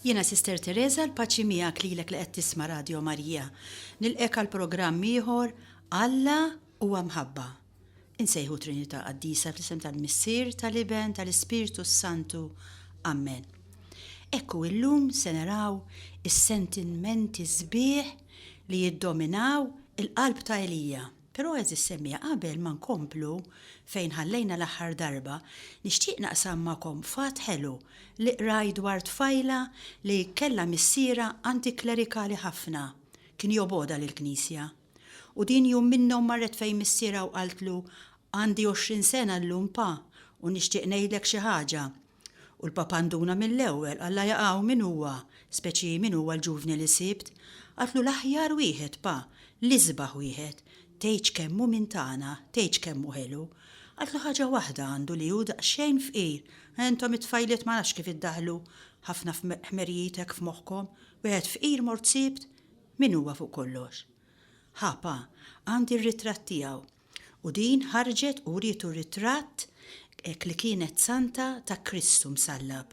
Jiena Sister Teresa, l-paċi miegħek lilek li qed tisma' Radio Marija. Nilqek għal programm ieħor Alla huwa mħabba. Insejħu Trinità Qaddisa fl-isem tal-Missier, tal-Iben, tal-Ispirtu s-Santu. Amen. Ekku illum se naraw is-sentimenti sbieħ li jiddominaw il-qalb ta' Elija. Però għeżież semmiegħa qabel ma nkomplu fejn ħallejna l-aħħar darba, nixtieq naqsam magħkom fatt ħelu li qrajt dwar tfajla li kellha missierha antiklerikali ħafna, kien jobogħodha lill-Knisja. U din jum minnhom marret fejn missierha u qaltlu, Għandi għoxrin sena llum Pa, u nixtieq ngħidlek xi ħaġa, U l-Papa nduna mill-ewwel, Alla jaf hawn min huwa, speċi min huwa l-ġuvni li sibt. Għadlu l-aħjar wieħed, Pa, l-isbaħ wieħed. Tgħidx kemm hu min tagħna, tgħidx kemm hu ħelu. Għadlu ħaġa waħda għandu li hu daqsxejn fqir. Intom it-tfajliet ma nafx kif iddaħħlu ħafna ħmerijiet hekk f'moħħkom. Wieħed fqir mort sibt? Min huwa fuq kollox? Ħa, Pa, għandi r-ritratt tiegħu. U din ħarġet u wrietu ritratt hekk li kienet santa ta' Kristu msallab.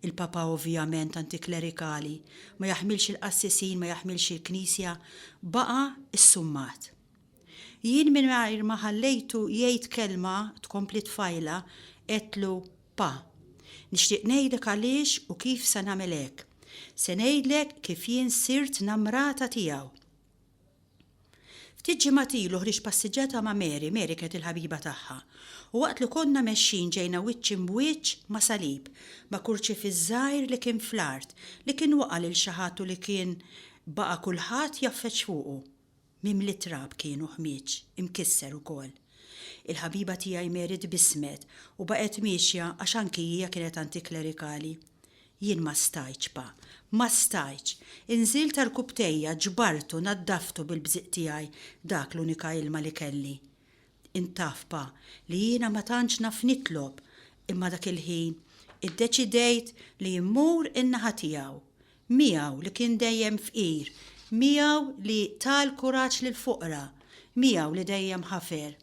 Il-Papa ovvjament antiklerikali, ma jaħmilx il-qassisin, ma jaħmilx il-Knisja, baqa' ssummat. Jien mingħajr ma ħallejtu jgħid kelma tkompli t-tfajla għedtlu, Pa, nixtieq ngħidlek għaliex u kif se nagħmel hekk. Se ngħidlek kif jien sirt namrata tiegħu. Ftit ġimgħat ilu ħriġt passiġġata ma' Mary, Mary kienet il-ħabiba tagħha, u waqt li konna mexjin ġejna wiċċ imb'wiċċ ma' salib, ma' kurċifiss żgħir li kien fl-art, li kien waqa' lil xi ħadd u li kien baqa' kulħadd jgħaffeġ fuqu. Mimli trab kien u ħmieġ, imkisser ukoll. Il-ħabiba tiegħi Mary tbissmet u baqgħet miexja għax anki hija kienet antiklerikali. Jien ma stajtx, pa, ma stajtx! Inżilt għarkupptejja, ġbartu, naddaftu bil-bżieq tiegħi, dak l-unika ilma li kelli. Int taf, pa, li jiena ma tantx naf nitlob, imma dak il-ħin iddeċidejt li mmur in-naħa tiegħu. Miegħu li kien dejjem fqir, miegħu li ta l-kuraġġ lill-foqra, miegħu li dejjem ħafer.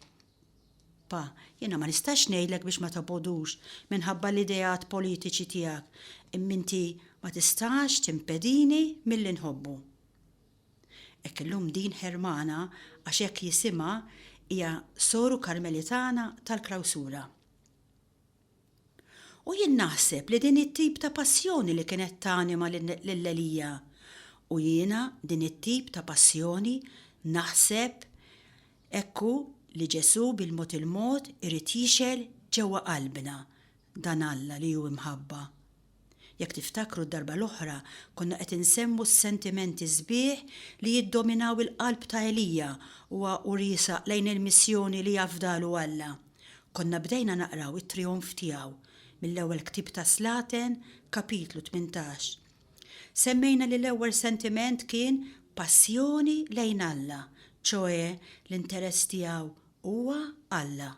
Pa, jiena ma nistax ngħidlek biex ma tobgħodux minħabba l-ideat politiċi tiegħek, imma inti ma tistax timpedini milli nħobbu. Hekk illum din Hermana, għax hekk jisimha, hija soru Karmelitana tal-Klawsura. U jien naħseb li din hi t-tip ta' passjoni li kienet tanima lil Elija. U jiena din it-tip ta' passjoni naħseb hekk hu li Ġesù bil-mod il-mod irid jixgħel ġewwa qalbna, dan Alla li hu imħabba. Jekk tiftakru d-darba l-oħra konna qed insemmu s-sentimenti sbieħ li jiddominaw il-qalb ta' Elija huwa u riesaq lejn il-missjoni li afdalu Alla. Konna bdejna naqraw it-trijonf tiegħu mill-ewwel ktieb ta' Slaten, kapitlu tmintax. Semmejna li l-ewwel sentiment kien passjoni lejn Alla, ċoe l-interess tiegħu huwa Alla.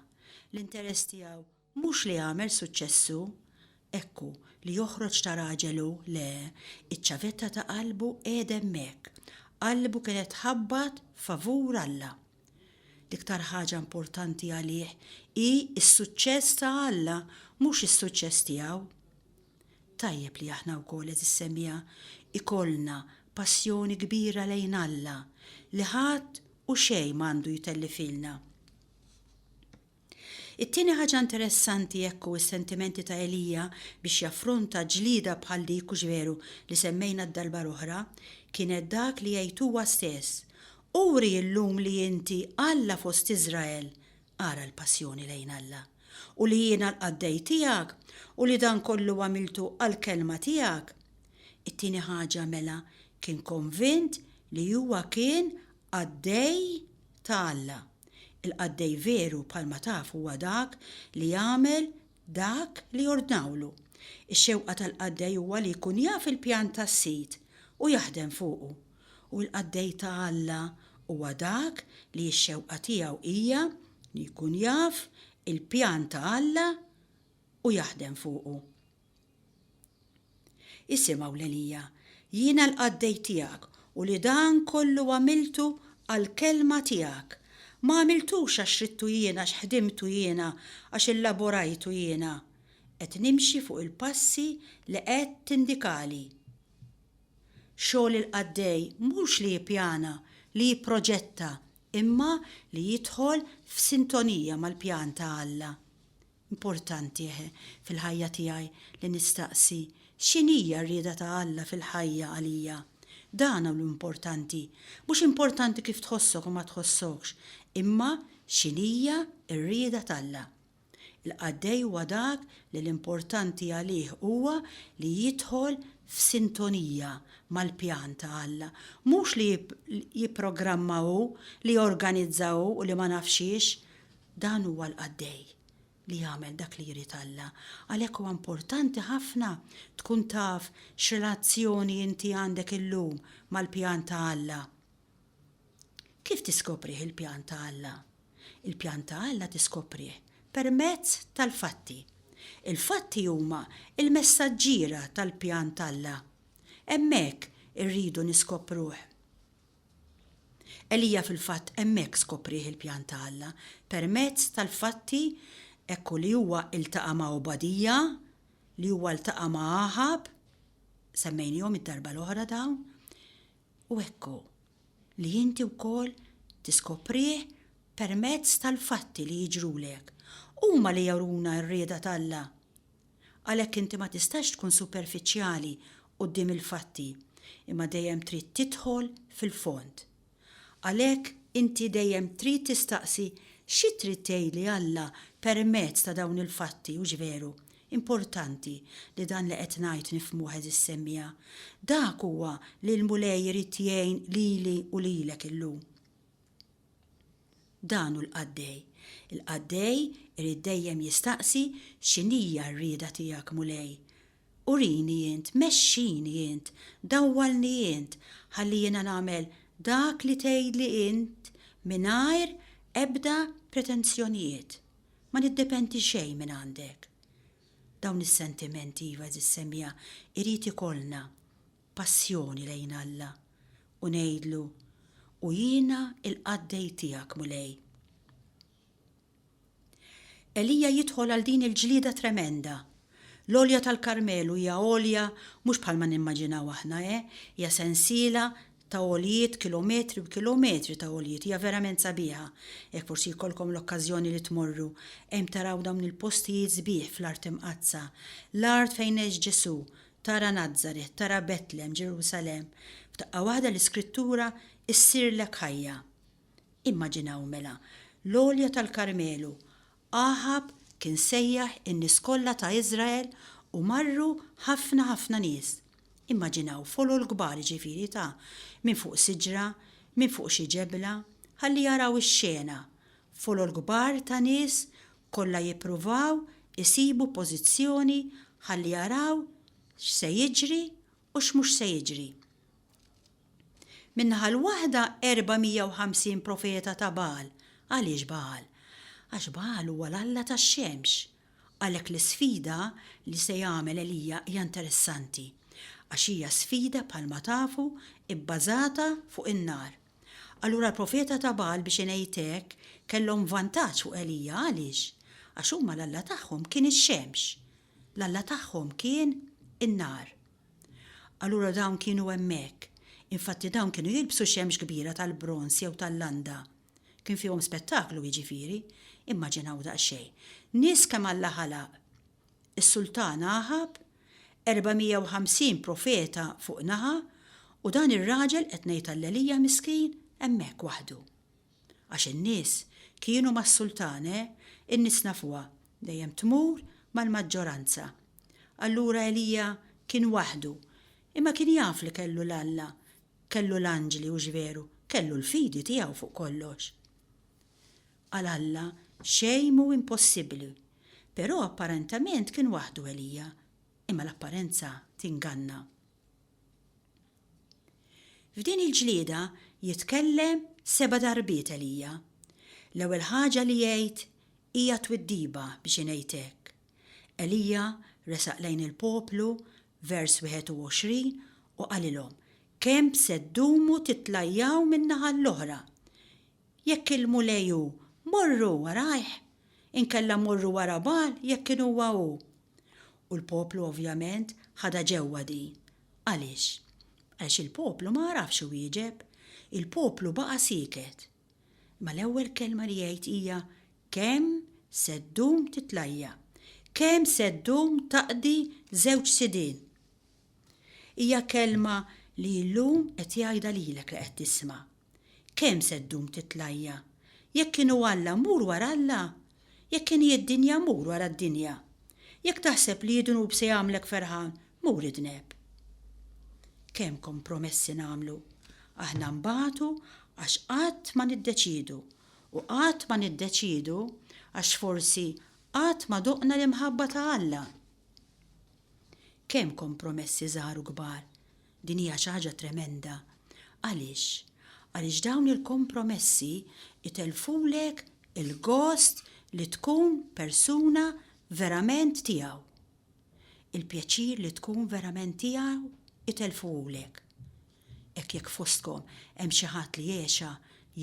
L-interess tiegħu Mhux li għamel suċċess hu, hekk hu, li joħroġ ta' raġel hu, le, iċ-ċavetta ta' qalbu qiegħda hemmhekk, qalbu kienet tħabbat favur Alla. L-iktar ħaġa importanti għalih hi s-suċċess ta' Alla, mhux is-suċċess tiegħu. Tajjeb li aħna wkoll, għeżież semija, ikollna passjoni kbira lejn Alla, li ħadd u xejn m'għandu jtellifhielna. It-tieni ħaġa interessanti hekk hu s-sentimenti ta' Elija biex jaffronta ġlieda bħal dik hux veru li semmejna d-darba l-oħra, kienet dak li jgħid huwa stess, Uri llum li inti Alla fost Iżrael, ara l-passjoni lejn Alla, u li jiena l-qaddej tiegħek u li dan kollu għamiltu għall-kelma tiegħek. It-tieni ħaġa mela kien konvint li huwa kien Qaddej ta' Alla. Il-qaddej veru, bħalma tafu, huwa dak li jagħmel dak li jordnawlu. Ix-xewqa tal-qaddej huwa li jkun jaf il-pjan tas-Sid u jaħdem fuqu. U l-qaddej ta' Alla huwa dak li x-xewqa tiegħu hija li jkun jaf il-pjan ta' Alla u jaħdem fuqu. Isem' hawn Elija, jiena l-qaddej tiegħek u li dan kollu għamiltu għall-kelma tiegħek. Ma għamiltux għax ridtu jiena, għax ħdimtu jiena, għax illaborajtu jiena. Qed nimxi fuq il-passi li qed tindikali. Xogħol il-qaddej mhux li jippjana, li jipproġetta, imma li jidħol f'sintonija mal-pjan ta' Alla. Importanti, eħe, fil-ħajja tiegħi li nistaqsi, X'inhija r-rieda ta' Alla fil-ħajja għalija? Dan hu l-importanti. Mhux importanti kif tħossok u ma tħossokx, imma x'inhija r-rieda t'Alla. Il-qaddej huwa dak li l-importanti għalih huwa li jidħol f'sintonija mal-pjan ta' Alla, mhux li jipprogramma hu, li jorganizza hu u li ma nafx xiex. Dan huwa l-qaddej li jagħmel dak li jrid Alla. Għalhekk huwa importanti ħafna tkun taf x'relazzjoni inti għandek illum mal-pjan ta' Alla. Kif tiskoprih il-pjan ta' Alla? Il-pjan ta' Alla tiskoprih permezz tal-fatti. Il-fatti huma l-messaġġiera tal-pjan t'Alla. Hemmhekk irridu niskopruh. Elija fil-fatt hemmhekk skoprih il-pjan ta' Alla permezz tal-fatti hekk u li huwa ltaqa' ma' Obadija, li huwa ltaqa' ma' Aħab, semmejniehom id-darba l-oħra dawn, u hekk hu li inti wkoll tiskoprih permezz tal-fatti li jiġrulek. Huma li juruna r-rieda t'Alla Għalhekk inti ma tistax tkun superfiċjali quddiem il-fatti, imma dejjem trid tidħol fil-fond. Għalhekk inti dejjem trid tistaqsi xi trid tgħidli Alla permezz ta' dawn il-fatti, hux veru? Importanti li dan li qed ngħid nifhmuh għeżiż semmiegħa. Dak huwa li l-Mulej irid jgħin lili u lilek illum. Dan hu l-qaddej. Il-qaddej irid dejjem jistaqsi, X'inhija r-rieda tiegħek, Mulej? Urini int, mexxini int, dawwalni int, ħalli jiena nagħmel dak li tgħidli int mingħajr ebda pretenzjonijiet. Ma niddependi xejn minn għandek. Dawn is-sentimenti, iva, għeżież semija, irid ikollna. passjoni lejn Alla u ngħidlu, U jiena l-qaddej tiegħek, Mulej. Elija jidħol għal din il-ġlieda tremenda. L-għolja tal-Karmelu hija għolja mhux bħalma nimmaġinaw aħna, eh, hija sensiela ta' għoljiet, kilometri u kilometri ta' għoljiet, hija verament sabiħa. Jekk forsi jkollkom l-okkażjoni li tmorru, hemm taraw dawn il-postijiet sbieħ fl-art imqaddsa, l-art fejn għex Ġesù, Tara Nazaret, tara Betlem, Ġerusalemm, f'daqqa waħda l-Iskrittura ssirlek ħajja. Immaġinaw, mela, l-għolja tal-Karmelu, Aħab kien sejjaħ in-nies kollha ta' Iżrael u marru ħafna ħafna nies. Immaġinaw folol kbar jiġifieri ta' minn fuq siġra, minn fuq xi ġebla, ħalli jaraw ix-xena, folol kbar ta' nies kollha jippruvaw isibu pożizzjoni ħalli jaraw x'se jiġri u x'mhux se jiġri. Min-naħa l-waħda 450 profeta ta' Bagħal. Għaliex Bagħal? Għax Bagħal huwa l-alla tax-xemx. Għalhekk l-isfida li se jagħmel Elija hija interessanti għax hija sfida bħalma tafu bbażata fuq in-nar. Allura l-profeta ta' Bagħal biex ingħid hekk, kellhom vantaġġ fuq Elija għaliex? Għax huma l-alla tagħhom kien ix-xemx. L-alla tagħhom kien in-nar. Allura dawn kienu hemmhekk. Infatti dawn kienu jilbsu xemx kbira tal-bronż jew tal-landa. Kien fihom spettaklu jiġifieri. Immaġinaw daqsxejn. Nies kemm Alla ħalaq, is-Sultan Aħab, 450 profeta fuq naħa u dan ir-raġel qed ngħid allelija miskin hemmhekk waħdu. Għax in-nies kienu mas-Sultan eh, in-nies nafuha dejjem tmur mal-maġġoranza. Allura Elija kien waħdu imma kien jaf li kellu 'l Alla, kellu l-anġli hux veru, kellu l-fidi tiegħu fuq kollox. Għal Alla xejn mhu impossibbli. Però apparentament kien waħdu Elija, imma l-apparenza tinganna. F'din il-ġlieda jitkellem seba' darbiet Elija. L-ewwel ħaġa li jgħid hija twiddiba biex ingħid hekk. Elija resaq lejn il-poplu, vers 21, u qalilhom, Kemm se ddumu titlajjaw min-naħa l-oħra? Jekk il-Mulej hu, morru warajh, inkella morru wara Bagħal jekk kien huwa hu. U l-poplu ovvjament ħadha ġewwa din. Għaliex? Għaliex il-poplu ma għarafx iwieġeb. Il-poplu baqa' sieket. Imma l-ewwel kelma li jgħid hija, Kemm se ddum titlajja'? Kemm se ddum taqdi żewġ sidien? Hija kelma li llum qed jgħidha lilek li qed tisma'. Kemm se ddum titlajja? Jekk kien hu Alla mur wara Alla. Jekk kien hi d-dinja mur wara d-dinja. Jekk taħseb li id-dnub se jagħmlek ferħan mur idneb. Kemm kompromessi nagħmlu. Aħna nbatu għax qatt ma niddeċiedu u qatt ma niddeċiedu għax forsi qatt ma doqna l-imħabba ta' Alla. Kemm kompromessi żgħar u kbar. Din hija xi ħaġa tremenda. Għaliex? Għaliex dawn il-kompromessi itellfulek il-gost li tkun persuna verament tiegħu. Il-pjaċir li tkun verament tiegħu itellfuhulek. Hekk jekk fostkom hemm xi ħadd li għexa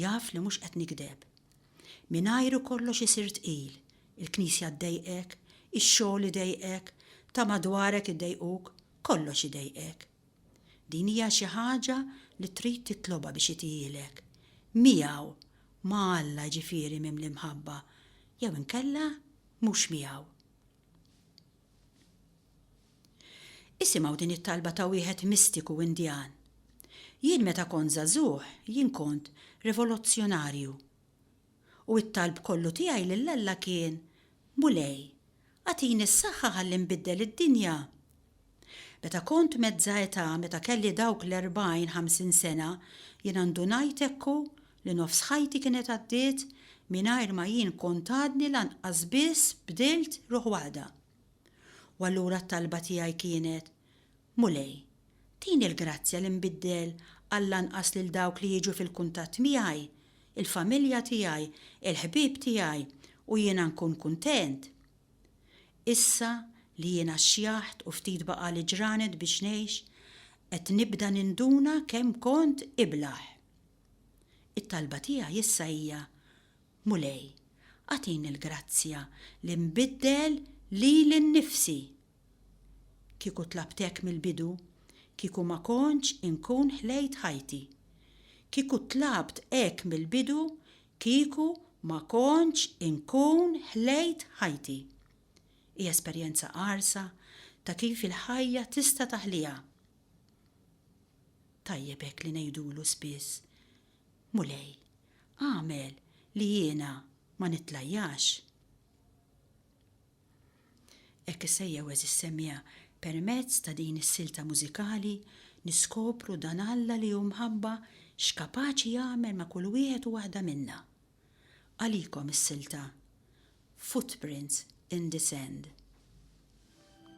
jaf li mhux qed nikdeb. Mingħajru kollox isir tqil, il-knisja ddejqek, ix-xogħol idejqek, ta' madwarek iddejquk, kollox idejqek. Din hija xi ħaġa li trid titlobha biex itihielek. Miegħu, ma' Alla jiġifieri mimli mħabba, jew inkella mhux miegħu. Isimgħu din it-talba ta' wieħed mistiku Indjan. Jien meta kont żagħżugħ, jien kont rivolozzjonarju. u t-talb kollu tiegħi lil Alla kien, Mulej, agħtini s-saħħa ħalli nbiddel id-dinja. Meta kont mezz'a età, meta kelli dawk l-erbgħin, ħamsin sena, jiena ndunajt hekk u, li nofs ħajti kienet għaddiet mingħajr ma jien kont għadni lanqas biss bdilt ruħ waħda. U allura t-talba tiegħi kienet, Mulej, tini l-grazzja li nbiddel għall-anqas lil dawk li jiġu fil-kuntatt miegħi, il-familja tiegħi, il-ħbieb tiegħi, u jiena nkun kuntent. Issa li jiena xjaħt u ftit baqagħli ġranet biex ngħix, qed nibda ninduna kemm kont iblah. It-talba tiegħi issa hija, Mulej, agħtini l-grazzja li nbiddel lili nnifsi. Kieku tlabt hekk mill-bidu, kieku ma kontx inkun ħlejt ħajti. Kieku tlabt hekk mill-bidu, kieku ma kontx inkun ħlejt ħajti. Hi esperjenza qarsa ta' kif il-ħajja tista' taħliha. Tajjeb hekk li ngħidulu spiss, Mulej, agħmel li jiena ma nitlajjax. Hekk isejjaħ għeżież semmiegħa, permezz ta' din is-silta mużikali niskopru dan Alla li hu mħabba x'kapaċi jagħmel ma' kull wieħed u waħda minna. Għalikom is-silta Footprints in the Sand.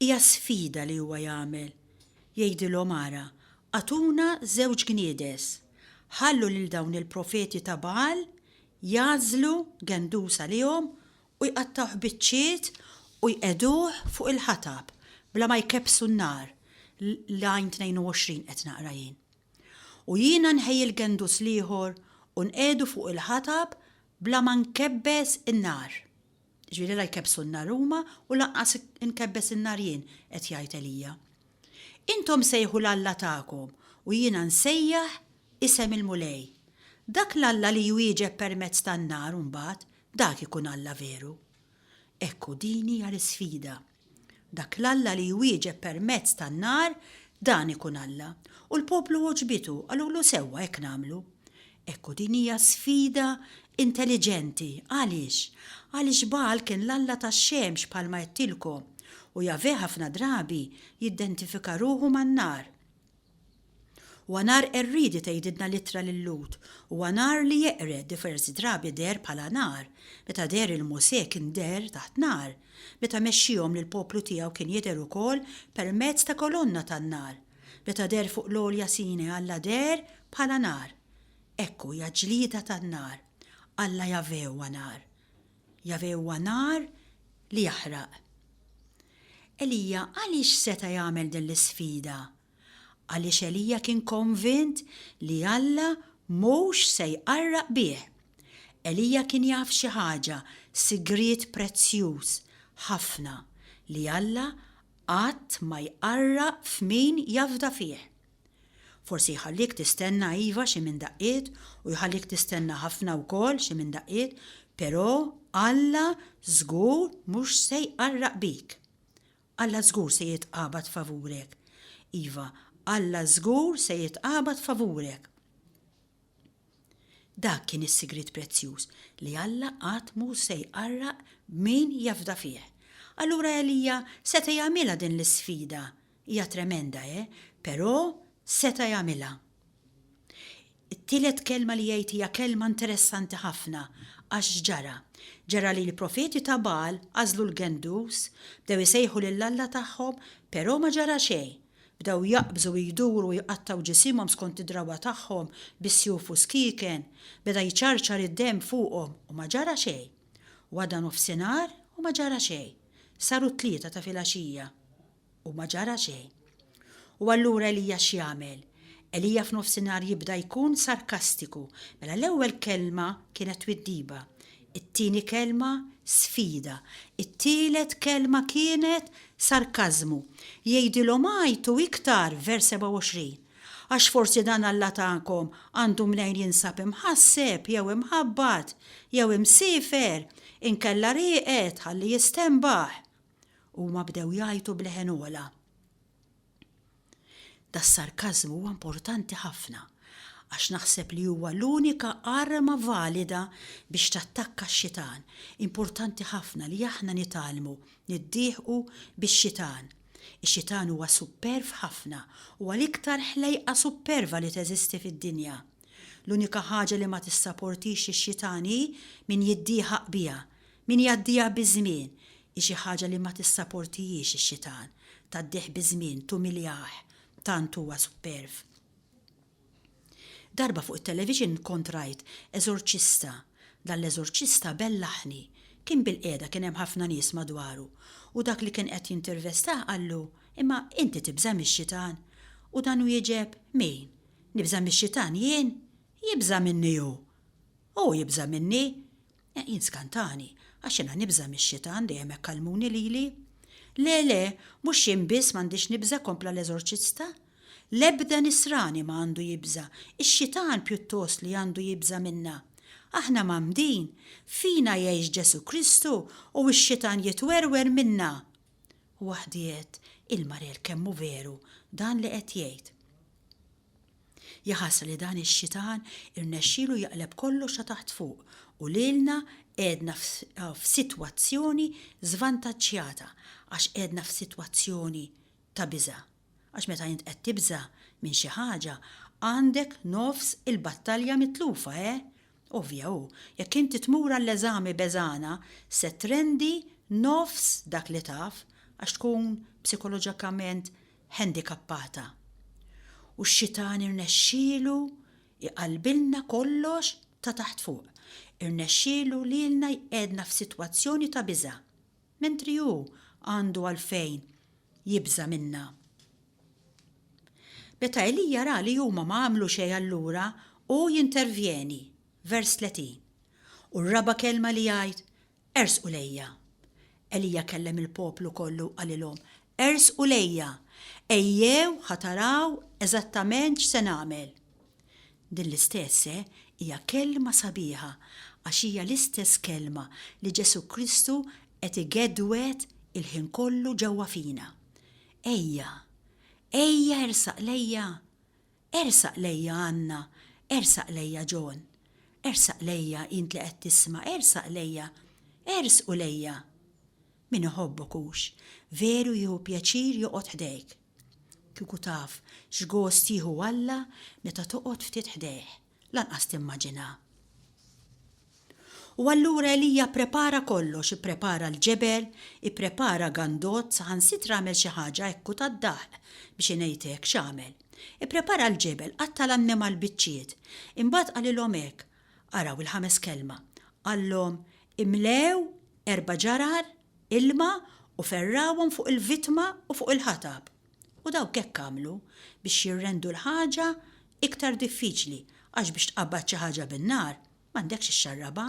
Hija sfida li huwa jagħmel, jgħidilhom ara, agħtuna żewġ gniedes, ħallu lil dawn il-profeti ta' Bagħal jagħżlu gendus għalihom u jqattgħuh biċċiet u jqegħduh fuq il-ħatab bla ma jkebbsu n-nar, Lajn 22 qed naqra jien. U jiena nħejji l-gendus l-ieħor u nqiegħdu fuq il-ħatab bla ma nkebbes in-nar. Ġifieri la jkebbsu n-nar huma u lanqas inkebbes in-nar jien, qed jgħid Elija. Intom sejħu 'l Alla tagħkom u jiena nsejjaħ isem il-Mulej. Dak l-Alla li jwieġeb permezz tan-nar imbagħad, dak ikun Alla veru. Hekk hu din hija l-isfida. Dak l-Alla li jwieġeb permezz tan-nar, dan ikun Alla. U l-poplu għoġbitu, qalulu sewwa hekk nagħmlu. Hekk hu din hija sfida intelliġenti. Għaliex? Għaliex Bagħal kien l-alla tax-xemx bħalma għedtilkom, u Jahweh ħafna drabi jiddentifika ruħu man-nar. Huwa nhar qerriedi tgħidilna l-ittra lil Lhud. Huwa nhar li jeqred, diversi drabi deher bħala nar. Meta deher lil Mosè kien deher taħt nar. Meta mexxiehom lill-poplu tiegħu kien jidher ukoll permezz ta' kolonna tan-nar. Meta deher fuq l-għolja Sinaj Alla deher bħala nar. Hekk hu hija ġlieda tan-nar. Alla Jahvè huwa nar. Jahweh huwa nar li jaħraq. Elija għaliex seta' jagħmel din l-isfida? Għaliex Elija kien konvint li Alla mhux se jqarraq bih. Elija kien jaf xi ħaġa, sigriet prezzjuż ħafna, li Alla qatt ma jqarraq f'min jafda fih. Forsi jħallik tistenna iva xi minn daqqiet u jħallik tistenna ħafna wkoll xi minn daqqiet, però Alla żgur mhux se jqarraq bik. Alla żgur se jitqabad favurek. Iva, Alla żgur se jitqabad favurek. Dak kien is-sigriet prezzjuż li Alla qatt mhu se jqarraq b'min jafda fih. Allura Elija seta' jagħmilha din l-isfida Hija tremenda, eh, però seta' jagħmilha. It-tielet kelma li jgħid hija kelma interessanti ħafna, għax x'ġara? Ġara li l-profeti ta' Bagħal għażlu l-gendus, bdew isejħu lil alla tagħhom, però ma ġara xejn. Bdew jaqbżu u jduru u jqattgħu ġisimhom skont id-drawwa tagħhom bis-sjuf u skieken, beda jċarċar id-demm fuqhom u ma ġara xejn. U għadda nofsinhar u ma ġara xejn. Saru t-tlieta ta' filgħaxija. U ma ġara xejn. U allura Elija x'jagħmel? Elija f'nofsinhar jibda jkun sarkastiku. Mela l-ewwel kelma kienet twiddiba, it-tieni kelma sfida, it-tielet kelma kienet sarkażmu. Jgħidilhom għajtu iktar, vers 27, għax forsi dan Alla tagħkom għandu mnejn jinsab imħasseb jew imħabbat jew imsiefer, inkella rieqed ħalli jistenbaħ. u huma bdew jgħajtu b'leħen ogħla. Das-sarkażmu huwa importanti ħafna għax naħseb li huwa l-unika arma valida biex tattakka x-xitan. Importanti ħafna li aħna nitgħallmu niddieħqu bix-xitan. Ix-xitan huwa supperv ħafna, huwa l-iktar ħlejqa supperva li teżisti fid-dinja. L-unika ħaġa li ma tissaportix ix-xitan hi min jiddieħaq biha. Min jgħaddiha biż-żmien hi xi ħaġa li ma tissaportihiex ix-xitan, tgħaddih biż-żmien, tumiljah, tant huwa supperv. Darba fuq it-television kont rajt eżorċista, dan l-eżorċista bellaħni, kien bilqiegħda kien hemm ħafna nies madwaru u dak li kien qed jintervestah qallu, imma inti tibża' mix-xitan? U dan wieġeb, min? Nibża' mix-xitan jien? Jibża' minni hu! Hu jibża' minni! Jien skantani, għax jiena nibża' mix-xitan, dejjem hekk għallmuni lili. Le, le, mhux jien biss m'għandix nibża' kompla l-eżorċista. L-ebda Nisrani ma għandu jibża', ix-xitan pjuttost li għandu jibża' minna. Aħna mgħammdin, fina jgħix Ġesù Kristu u x-xitan jitwerwer minna. Waħdi għedt, Il-Marel kemm hu veru dan li qed jgħid. Jaħasra li dan ix-xitan irnexxielu jaqleb kollox ta' taħt fuq u lilna qegħedna f'sitwazzjoni żvantaġġjata għax qegħedna f'sitwazzjoni ta' biża'. Għax meta int qed tibża' minn xi ħaġa għandek nofs il-battalja mitlufa, eh? Ovvja hu, jekk inti tmur għall-eżami beżgħana se trendi nofs dak li taf għax tkun psikoloġikament ħendikappata, u x-xitan irnexxielu jqallbilna kollox ta' taħt fuq, irnexxielu lilna jqegħedna f'sitwazzjoni ta' biża', mentri hu għandu għalfejn jibża' minna. Meta Elija ra li huma ma għamlu xejn allura hu jintervjeni, vers 30, u r-raba' kelma li jgħid, Ersqu lejja. Elija kellem il-poplu kollu u qalilhom, Ersqu lejja! Ejjew ħa taraw eżattament x'se nagħmel. Din l-istess hija kelma sabiħa għax hija l-istess kelma li Ġesù Kristu qed igedwed il-ħin kollu ġewwa fina. Ejja! Ejja ersaq lejja! Ersaq lejja Anna, ersaq lejja John. Ersaq lejja int li qed tisma', ersaq lejja, ersqu lejja! Min iħobbok hux veru jieħu pjaċir joqgħod ħdejk. Kieku taf x'gost jieħu Alla meta toqgħod ftit ħdejh. Lanqas timmaġina. U allura Elija pprepara kollox, ipprepara l-ġebel, ipprepara gandot, saħansitra għamel xi ħaġa hekk u tad-daħq, biex ingħid hekk, x'għamel? Ipprepara l-ġebel, qatta' l-annimal biċċiet. Imbagħad qalilhom hekk, araw il-ħames kelma, qallhom, Imlew erba' ġarar ilma u ferrawhom fuq il-vittma u fuq il-ħatab. U dawk hekk għamlu biex jirrendu l-ħaġa iktar diffiċli, għax biex tqabbad xi ħaġa bin-nar, m'għandekx ixxarrabha,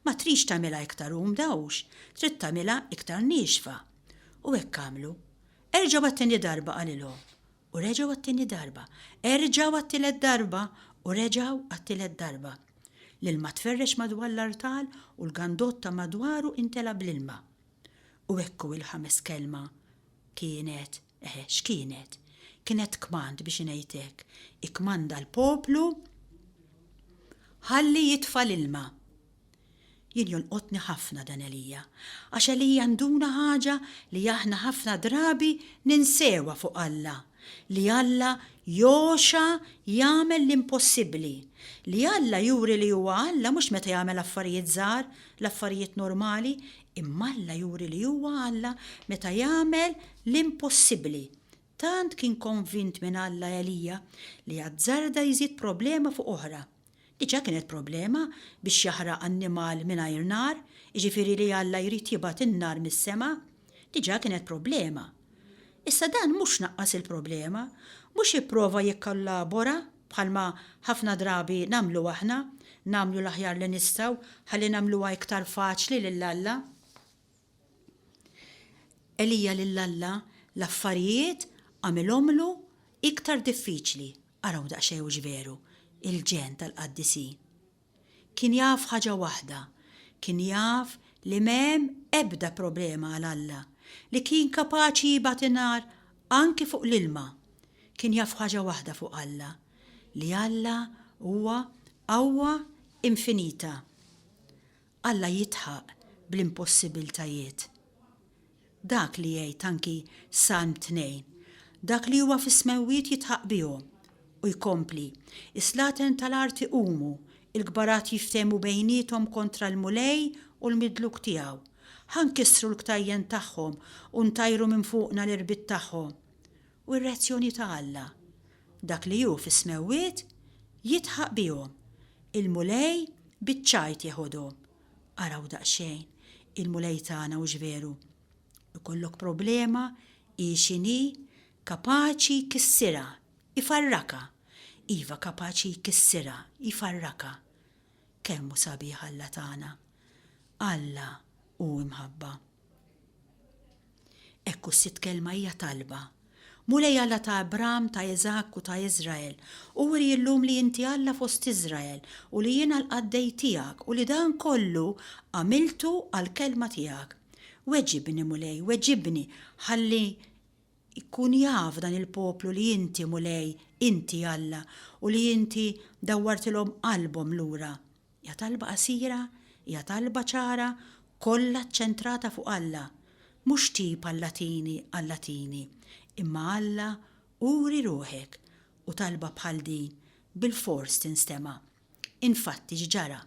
ma tridx tagħmilha iktar umda hux, trid tagħmilha iktar niexfa. U hekk għamlu. Erġgħu għat-tieni darba qalilhom, u reġgħu għat-tieni darba, erġgħu għat-tielet darba, u reġgħu għat-tielet darba. L-ilma tferrex madwar l-artal u l-gandotta madwaru intela' bl-ilma. U hekk hu l-ħames kelma, kienet, eħe, x'kienet? Kienet kmand biex ngħid hekk, ikkmanda l-poplu ħalli jitfa' l-ilma. Jien jolqotni ħafna dan Elija, għax Elija nduna ħaġa li aħna ħafna drabi ninsewha fuq Alla. li Alla jogħxa jagħmel l-impossibbli. Li Alla juri li huwa Alla mhux meta jagħmel affarijiet żgħar, l-affarijiet normali, imma Alla juri li huwa Alla meta jagħmel l-impossibbli. Tant kien konvint minn Alla Elija li azzarda jżid problema fuq oħra. Diġà kienet problema biex jaħraq annimal mingħajr nar, jiġifieri li Alla jrid jibgħat in-nar mis-sema, diġà kienet problema. Issa dan mhux naqqas il-problema, mhux ipprova jikkollabora bħalma ħafna drabi nagħmlu aħna, nagħmlu l-aħjar li nistgħu ħalli nagħmluha iktar faċli lil Alla. Elija lil Alla l-affarijiet għamilhomlu iktar diffiċli. Araw daqsxejn hux veru, il-ġenn tal-qaddisin. Kien jaf ħaġa waħda, kien jaf li m'hemm ebda problema għal Alla, li kien kapaċi jibgħat in-nar anki fuq l-ilma. Kien jaf ħaġa waħda fuq Alla, li Alla huwa qawwa infinita. Alla jidħaq bl-impossibbiltajiet. Dak li jgħid anki Salm 2, Dak li huwa fis-smewwiet jidħaq bihom. U jkompli, Is-slaten tal-art iqumu, il-kbarat jiftehmu bejniethom kontra l-Mulej u l-Midluk tiegħu. Ħa nkissru l-ktajjen tagħhom u ntajru minn fuqna l-irbit tagħhom. u r-reazzjoni ta' Alla, dak li hu fis-smewwiet jidħaq bihom, il-Mulej biċ-ċajt jeħodhom. Araw daqsxejn il-Mulej tagħna hux veru! Ikollok problema, hi x'inhi, kapaċi jkissirha, ifarrakha. Iva, kapaċi jkissirha, jfarrakha. Kemm hu sabiħ Alla tagħna! Alla hu imħabba. Hekk hu s-sitt kelma hija talba. Mulej Alla ta' Abram, ta' Iżakk u ta' Iżrael, uri llum li inti Alla fost Iżrael u li jiena l-qaddej tiegħek u li dan kollu għamiltu għall-kelma tiegħek. Weġibni, Mulej, weġibni, ħalli Ikun jaf dan il-poplu li inti, Mulej, inti Alla, u li inti dawwartilhom qalbhom lura. Hija talba qasira, hija talba ċara, kollha ċċentrata fuq Alla. Mhux tip għall-Atini, għall-Atini, imma Alla uri ruħek, u talba bħal din bilfors tinstema'. Infatti x'ġara?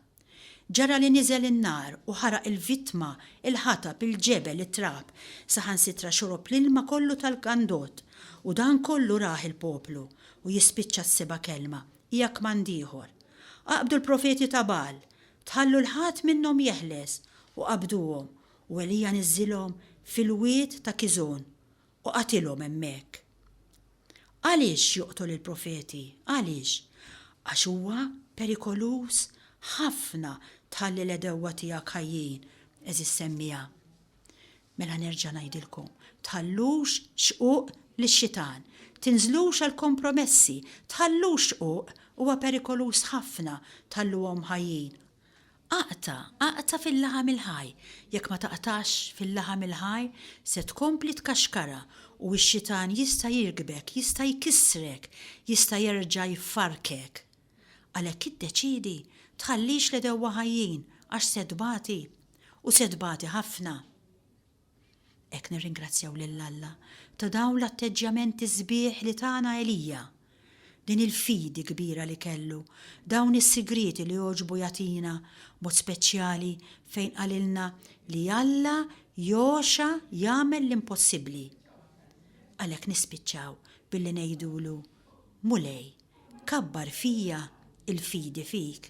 Ġara li niżel in-nar u ħaraq il-vittma, il-ħatab, il-ġebel, it-trab, saħansitra xorob l-ilma kollu tal-għandod. U dan kollu rah il-poplu. U jispiċċa s-seba' kelma, hija kmand ieħor. Aqbdu l-profeti ta' Bagħal! Tħallu 'l ħadd minnhom jeħles! U qabduhom. U Elija niżżilhom fil-wied ta' Kiżon. U qatilhom hemmhekk. Għaliex joqtol il-profeti? Għaliex? Għax huwa perikoluż ħafna tħalli l-għedewwa tiegħek ħajjin, għeżież semmiegħa. Mela nerġa' ngħidilkom, tħallux xquq lix-xitan, tinżlux għal kompromessi, tħallux xquq, huwa perikoluż ħafna tħalluhom ħajjin, Aqta', aqta' fil-laħam il-ħaj, jekk ma taqtax fil-laħam il-ħaj, se tkompli tkaxkara, u x-xitan jista' jirkbek, jista' jkissrek, jista' jerġa' jfarrkek. Għalhekk iddeċiedi tħallix l-għedewwa ħajjin, għax se tbati, u se tbati ħafna. Hekk nirringrazzjaw lil Alla ta' dawn l-atteġġjamenti sbieħ li tana Elija, din il-fidi kbira li kellu, dawn is-sigrieti li għoġbu jagħtina, b'mod speċjali fejn qalilna li Alla jogħxa jagħmel l-impossibbli. Għalhekk nispiċċaw billi ngħidulu, Mulej, kabbar fija l-fidi fik.